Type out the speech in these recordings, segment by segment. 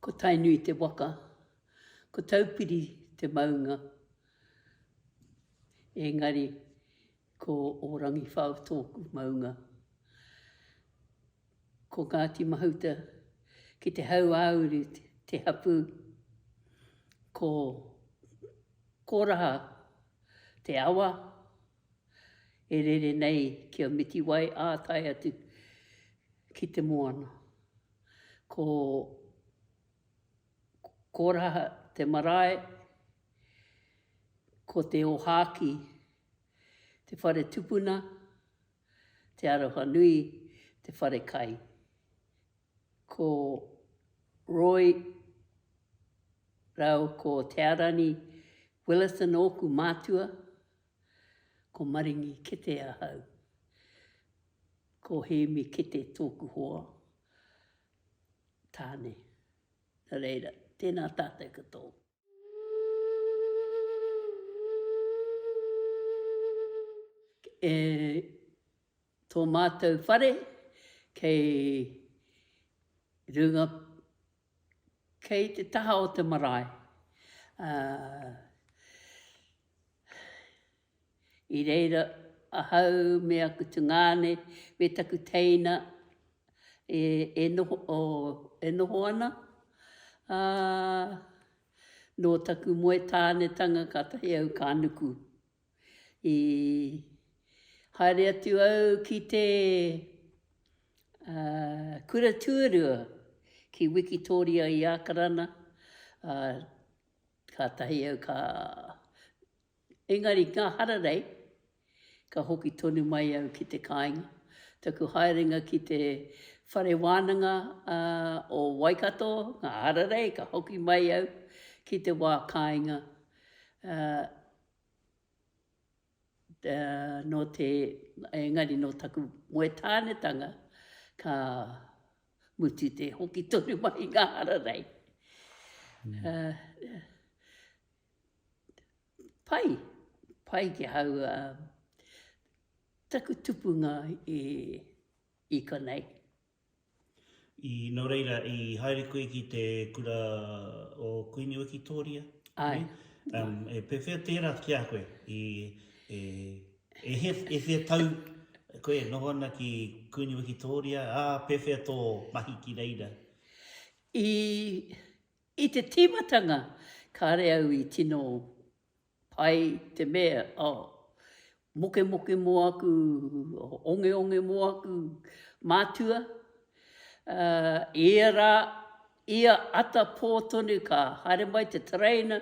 Ko Tainui te waka, ko Taupiri te maunga, engari ko Ōrangiwhao tōku maunga. Ko Ngāti Mahuta ki te hauāuru te hapū, ko Kōraha te awa, e rere nei ki a Mitiwai ā tae atu ki te moana. Ko Koraha te marae, ko Te Ōhākī te whare tupuna, Te Arohanui te whare kai. Ko Roy rāua ko Tearani Willison ōku mātua. Ko Maringi Kete ahau. Ko Hēmi Kete tōku hoa, tāne. Nō reira, tēnā tātou ki tō. E tō mātou whare kei runga. Kei te taha o te marae, ā, i reira ahau me aku tungāne me taku teina e noho ana, ā, nō taku moe tānetanga kātahi au ka nuku. I haere atu au ki te kura tuarua ki Wikitoria i Ākarana, ā, kātahi au ka, engari ngā hararei, ka hoki tonu mai au ki te kāinga. Taku haerenga ki te Whare Wānanga o Waikato, ngā hararei, ka hoki mai au ki te wā kāinga, ā. nō te, engari nō taku moe tānetanga, ka mutu te hoki tonu mai i ngā hararei. Pai, pai ki ahau taku tupunga i konei. I, nō reira, i haere koe ki te kura o Kuini Wikitoria? Ai. Um, e pewhea tērā ki a koe? I, e, e, he, e whea tau koe e noho ana ki Kuini Wikitoria? Ā, pewhea tō mahi ki reira? I, i te tīmatanga, kāre au i tino Pai te mea, oh. Mokemoke mo aku, ongeonge mo aku mātua. Uh, ia rā, ia ata pō tonu ka haere mai te tereina,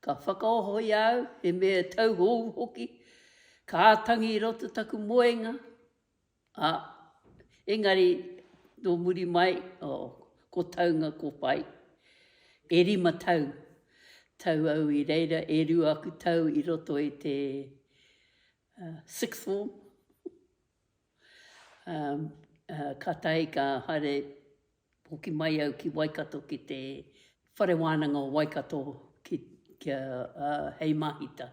ka whakaoho i au, he mea tauhou hoki, ka tangi i roto taku moenga, Ā, engari nō muri mai, oh, ko taunga ko whai, e rima tau, tau au i reira, e rua aku tau i roto i te uh, sixth form, um, uh, kātahi ka haere Hoki mai au ki Waikato ki te Whare Wānanga o Waikato kia hei māhita.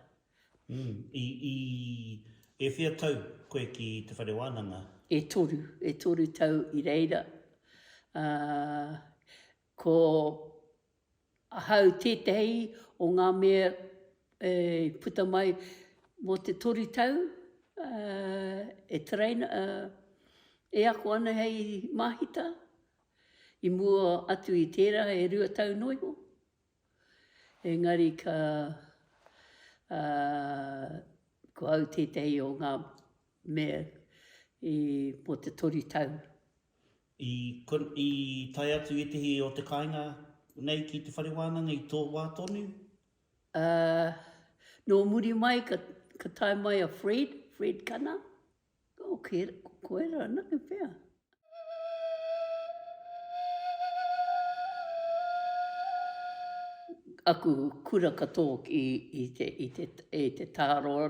I E whea tau koe ki te Whare Wānanga? E toru, e toru tau i reira. Ko Ahau tētehi o ngā mea e puta mai mō te toru tau e train, e ako ana hei māhita, i mua atu i tērā e rua tau noa iho. Engari ka, ko au tētehi o ngā mea i, mō te toru tau. I tae atu ētehi o te kāinga nei ki te whare wānanga i tō wā tonu? Ā, nō muri mai ka tae mai a Fred, Fred Kana, o Koera anake pea. Aku kura katoa i te Tāroa.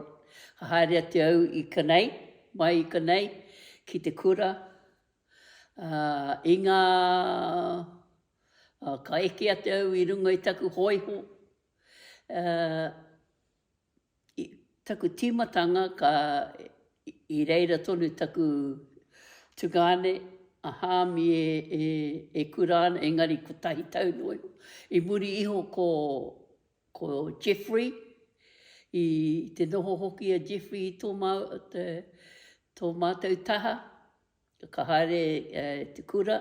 Ka haere atu au i Kanei, Mai i konei ki te kura, ā, i ngā, ā, ka eke atu au i runga i taku hōiho, ā, i taku tīmatanga ka, i reira tonu taku tungāne, a Hāmi e, e, e kura ana, engari kotahi tau noa iho. I muri iho ko. Ko Jeffrey, i te noho hoki a Jeffrey i tō mātou taha, ka haere te kura,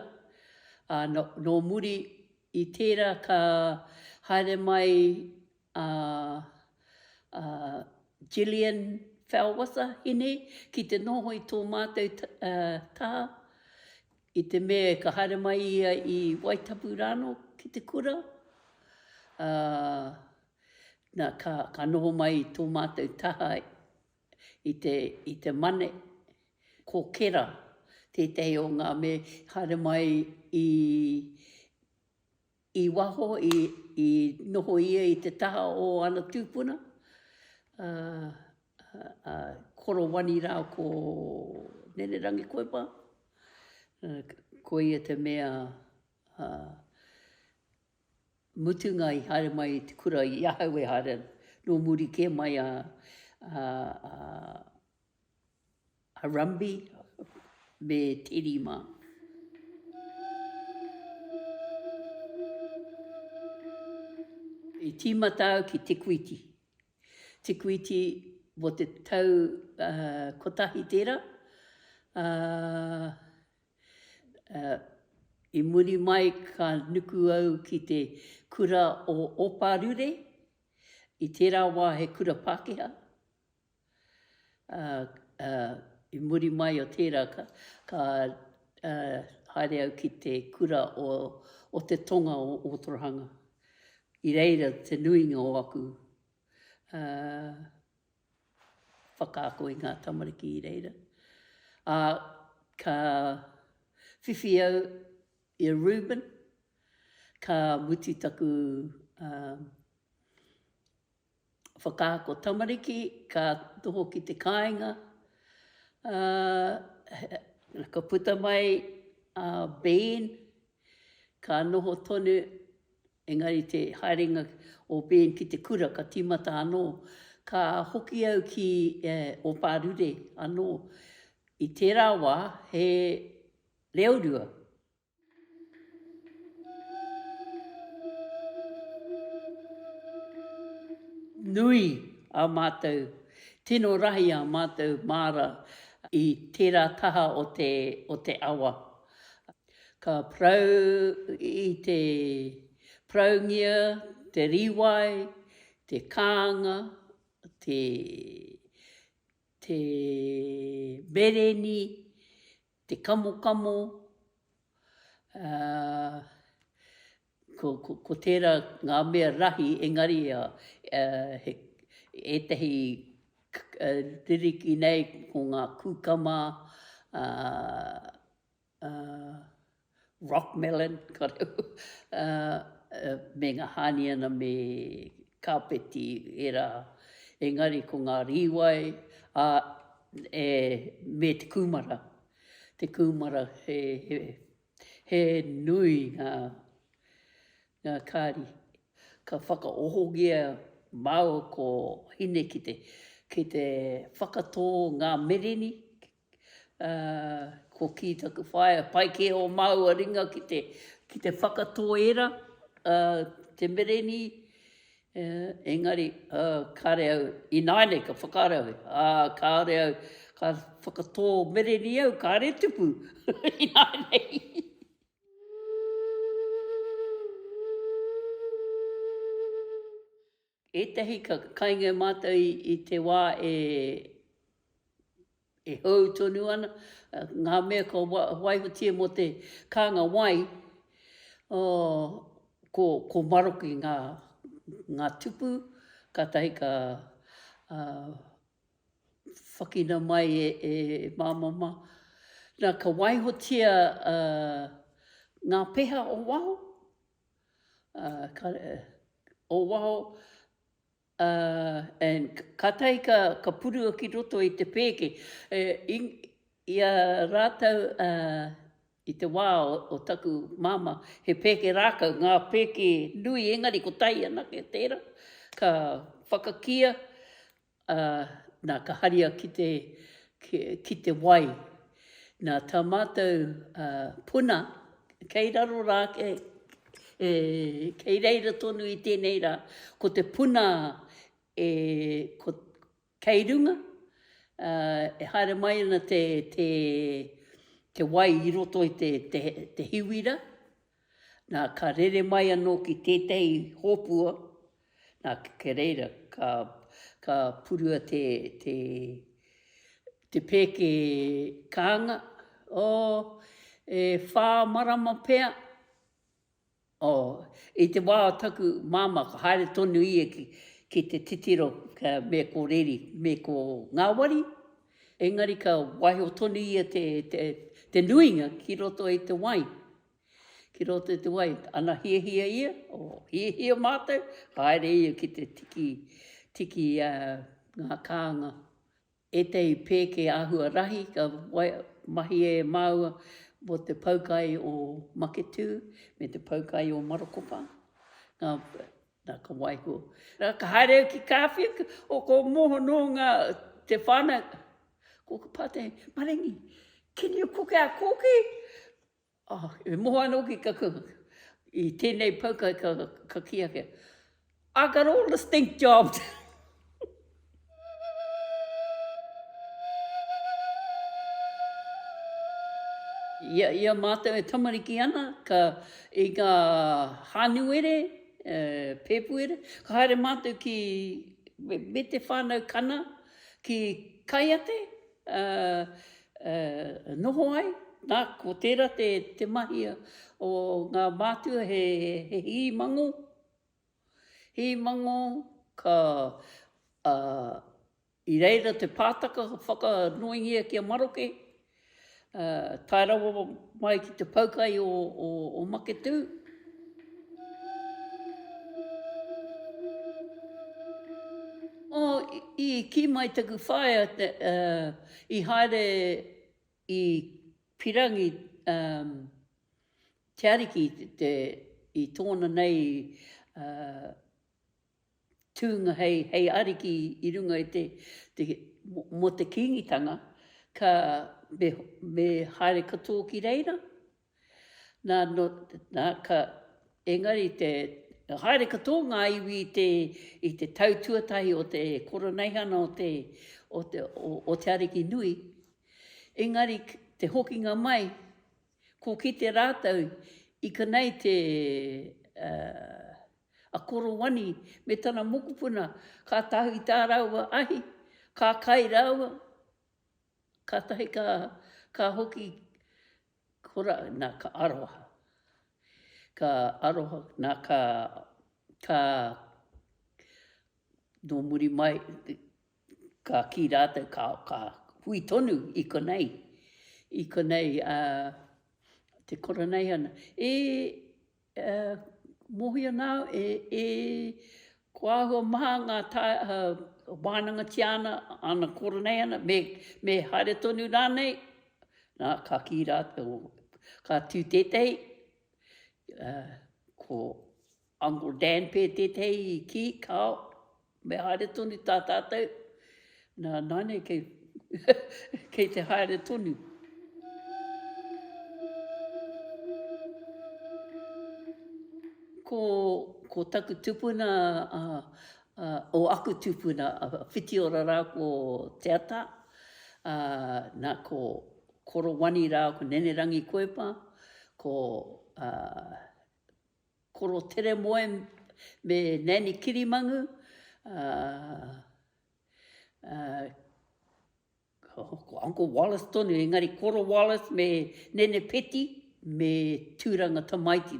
ā, nō muri i tērā ka haere mai a Jillian Fellwither, Hine, ki te noho i tō mātou taha, I te mea ka haere mai ia i Waitapu rānō ki te kura, ā, nā, ka, ka noho mai i tō mātou taha i te, i te Mane. Ko Kera tētahi o ngā mea i haere mai i, I waho i noho ia i te taha o ana tupuna, a Korowani ra ko Nenerangi Koepa, koia te mea mutunga i haere mai i te kura i ahau e haere ana, no muri ke mai a Harambe me te rima. I tīmata au ki Te Kuiti. Te Kuiti mō te tau kotahi tērā. I muri mai ka nuku au ki te kura o Oparure. I tērā wā he kura Pākehā. Ā, i muri mai o tērā, ka haere au ki te kura o te tonga o Ōtorohanga. I reira te nuinga o aku whakaako i ngā tamariki i reira. Ā, ka whiwhi au i a Reuben, ka mutu taku whakaako tamariki ka noho ki te kāinga, ā, ka puta mai a Ben, ka noho tonu, engari te haerenga o Ben ki te kura ka tīmata anō. Ka hoki au ki Opārure anō. I tērā wā he reorua. Nui a mātou tino rahi a mātou māra i tērā taha o te o te awa. Ka parau i te paraungia te rīwai, te kānga, te te mereni, te kamokamo, ko tērā ngā mea rahi, engari ētahi ririki nei ko ngā kūkama, rock melon, me ngā hāniana me kāpeti ērā. Engari ko ngā rīwai me te kūmara, te kūmara he nui ngā kāri. Ka whakaohongia māua ko hine ki te whakatō ngā mereni Ko kī taku whaea, pai kē ō māua ringa ki te ki te whakatō ērā te merenī, engari kāre au ināianei ka whakaaro au, ā, kāore au ka whakatō merenī au kāre tupu ināianei. Ētahi ka kainga mātou i te wā e hou tonu ana, ngā mea ka waihotia mō te kānga wai, ko maroke ngā tupu, kātahi ka whakina mai e māmama. Nā, ka waihotia ngā peha o waho, o waho, ā, and kātahi ka, ka purua ki roto i te pēke, i, i a rātou, ā, i te wā o, o taku māmā, he pēke rākau, ngā pēke nui, engari kotahi anake tērā, ka whakakīa, Ā, nā, ka haria ki te, ki, ki te wai. Nā, tā mātou ā, puna, kei raro rā, kei, e, kei reira tonu i tēnei rā, ko te puna e, ko, kei runga, ā, e haere mai ana te, te, te wai i roto i te, te, te hiwira, Nā, ka rere mai anō ki tētehi hōpua, nā, kei reira, ka, ka purua te, te, te pēke kānga, oh, e whā marama pea, oh, i te wā o taku māmā, ka haere tonu ia ki, ki te titiro ka, me ko reri, me ko ngāwari, engari ka waiho tonu ia te, te, te nuinga ki roto i te wai. Ki roto i te wai, ana hiahia ia, o, hiahia mātou, haere ia ki te tiki, tiki a ngā kānga. Ētahi pēke āhua rahi ka wai, mahia e māua mō te poukai o Maketū me te poukai o Marokopa, ngā, nā ka waiho. Nā ka haere au ki Kāwhia, o ko Moho nō ngā, te whānau, ko ka pātai, Maringi, can you cook our kōkī? E moho ana hoki ka kau i tēnei pau kai ka kī ake, I got all the stink jobs! I a mātou e tamariki ana, ka i ngā hānuere, pēpuere, ka haere mātou ki, me te whānau Kana, ki Kaiate, noho ai, na, ko tērā te mahi o ngā mātua he hī mangō, hī mangō ka, i reira te pātaka ka whakanoingia ki a maroke, tae rawa mai ki te poukai o maketū. Oh, i ki mai taku whaea uh, i haere i pirangi um, te ariki te, te, i tōna nei uh, tūnga hei, hei ariki i runga i te, te mo te kīngitanga, ka me, me haere katoa ki reira. Nā, nō, nā, ka, engari te, haere katoa ngā iwi i te, i te tau tuatahi o te koroneihana o te, o te, o, o te Ariki Nui, engari te hokinga mai, ko kite rātou i konei te, uh, a Korowani me tana mokopuna, ka tahu i tā rāua ahi, ka kai rāua, kātahi ka, ka hoki, Kura na ka aroha. Ka aroha na ka ka no muri mai ka ki ratou ka ka hui tonu i konei i konei a te kura nei ana e E mohi ana au e, e, ko ahua maha nga ta, uh, wānangatia ana, ana kora nei ana, me, me haere tonu rānei, nā, ka kī rā, oh, ka tū tētehi, uh, ko Uncle Dan pē tētehi i kī, kāo, Me haere tonu tā tātou, nā, nāne kei, kei te haere tonu. Ko, ko taku tupuna, a, a, o aku tupuna, a Whitiora rā ko Te Ata, a, nā, ko Korowani rā ko Nenerangi Koepa, ko a, Koro Teremoe me Nanny Kirimangu, ko Uncle Wallace tonu, engari Koro Wallace me Nene Peti, me Tūranga Tamaiti,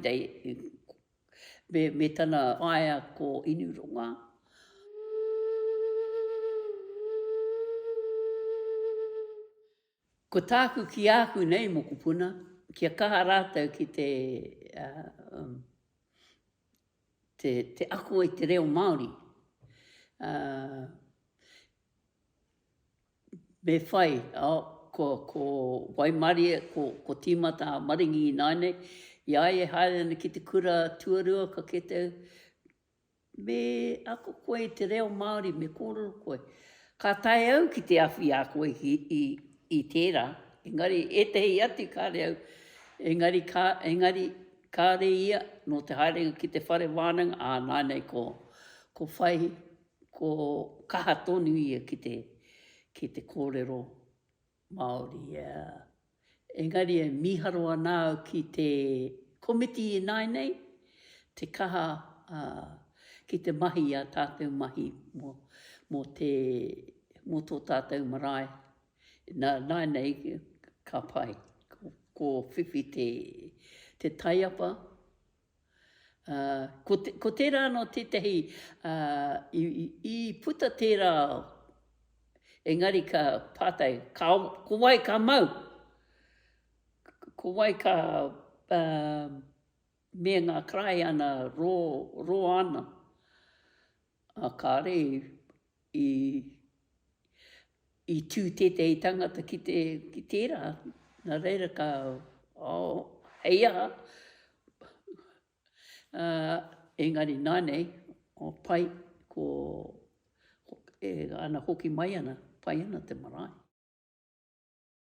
me tana whaea ko Inuronga. Ko tāku ki āku nei mokopuna, kia kaha rātou ki te te ako i te reo Māori. Me whai, ko ko waimarie, ko ko tīmata a Maringi ināinei, i a ia e haere ana ki te kura tuarua ka kite Me ako koe i te reo Māori, me kōrero koe. Ka taea au ki te awhiā koe i tērā, engari ētehi atu kāre au, engari engari kāre ia nō te haerenga ki te whare wānanga, ā, nānei ko, ko whai, ko kaha tonu ia ki te, ki te kōrero Māori, ā. Engari e mīharo ana au ki te komiti ināinei, te kaha, ā, ki te mahi i ā tātou mahi mō, mō te, mō tō tātou marae. Nā, nāinei ka pai, ko, ko whiwhi te, te taiapa, Ko tērā anō tētahi i puta tērā ao, engari ka pātai, ko wai ka mau? Ko wai ka me ngā karaehe ana, roa ana? Kāre i I i tū tētehi tangata ki te ki tērā, nā reira ka, oh, hei aha, engari nānei, oh, pai, ko, e ana hoki mai ana, pai ana te marae.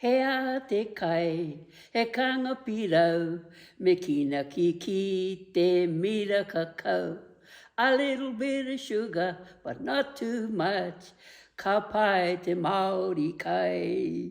He a te kai, he kanga pirau, me kina kiki te mira kakau A little bit of sugar, but not too much, ka pai te Māori kai.